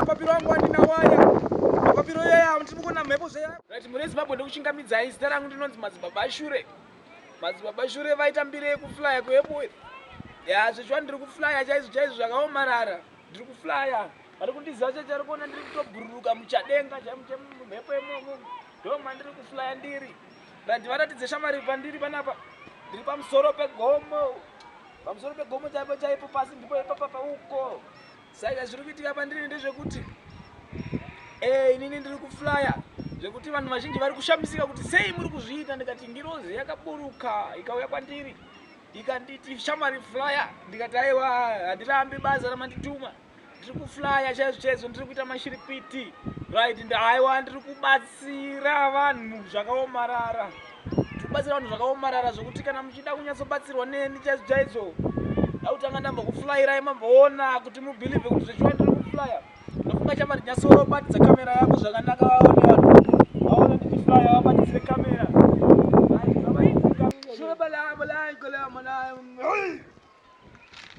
mapapiro angu andina waya mapapiro yaya ndiri kukona mhepo zveya right mune zimbabwe ndokuchingamidzai zita rangu ndinonzi madzibaba shure madzibaba shure vaita mbiri yekuflya kuepo ya zvechiwa ndiri kuflya chaizvo chaizvo zvakaomarara ndiri kuflya vari kundiziva chacho ari kuona ndiri kutobhururuka muchadenga chaimhepo yemomo ndo mandiri kuflya ndiri randi varatidze shamari pandiri panapa ndiri pamusoro pegomo pamusoro pegomo chaipo chaipo pasi ndipo ipapapa uko Saka zviri kuitika pandiri ndezvekuti eh, inini ndiri kuflya zvekuti vanhu vazhinji vari kushamisika kuti sei muri kuzviita ndikati ngirozi yakaburuka ikauya kwandiri ikanditi shamari flya ndikati aiwa handirambi basa ramandituma ndiri kuflya chaizvo chaizvo ndiri kuita mashiripiti right ndaiwa ndiri kubatsira vanhu zvakaomarara Tikubatsira vanhu zvakaomarara zvokuti kana muchida kunyatsobatsirwa neni chaidzo chaidzo ndautanga ndamba kuflyirai mamboona kuti mubhilivhe kuti zvechiwa ndiri kuflya ndofunga chamba ndinyatsobatidza kamera yako zvakanaka vaone vanhu vaona ndichiflya vabatisire kamera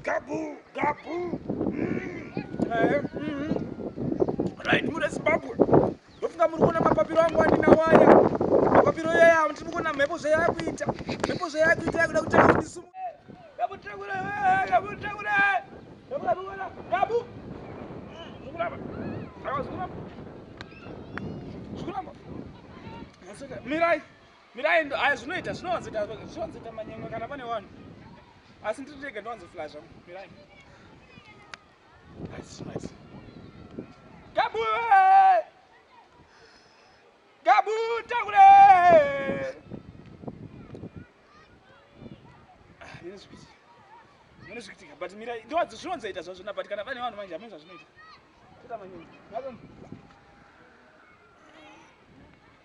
Gabu, gabu. Mm. Eh, mm. Right, mune Zimbabwe. Ndofunga muri kuona mapapiro angu andina waya. Mapapiro yaya andiri kuona mhepo zvayakuita. Mhepo zvayakuita yakuda kutanga kuti sumu. Gabu takura, eh, gabu takura. Gabu, gabu, gabu. Zikuramba. Zikuramba. Zikuramba. Mirai. Mirai ndo aya zvinoita zvinowanzoita zvinowanzoita manyemwe kana pane vanhu. Asi ndiri ndega ndowanzo flasha. Mirai. Nice nice. Gabu! Gabu takule! Ah, nini zvipichi. Nini zvikitika but mirai ndo wadzo zvinowanzoita zvazvo na but kana pane vanhu manje amuzva zvinoita. Tata manyemwe. Gabu.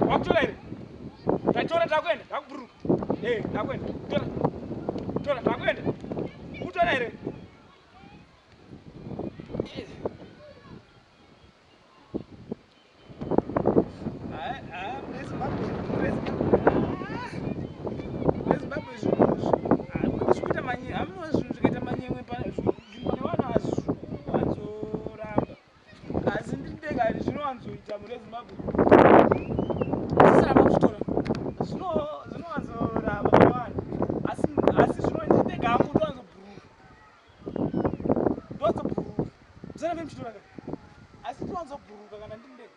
wakutora here tatora takuenda takuburuka e eh, takuenda tora tora takuenda kutora here Asi ndiri ndega here zvinowanzoita mune Zimbabwe? Zvisaramba kutora. Zvino zvinowanzoramba mune vanhu. Asi asi zvino ndiri ndega hangu ndowanzobhuruka. Ndowanzobhuruka. Zana vem chitora ka. Asi ndowanzobhuruka kana ndiri ndega.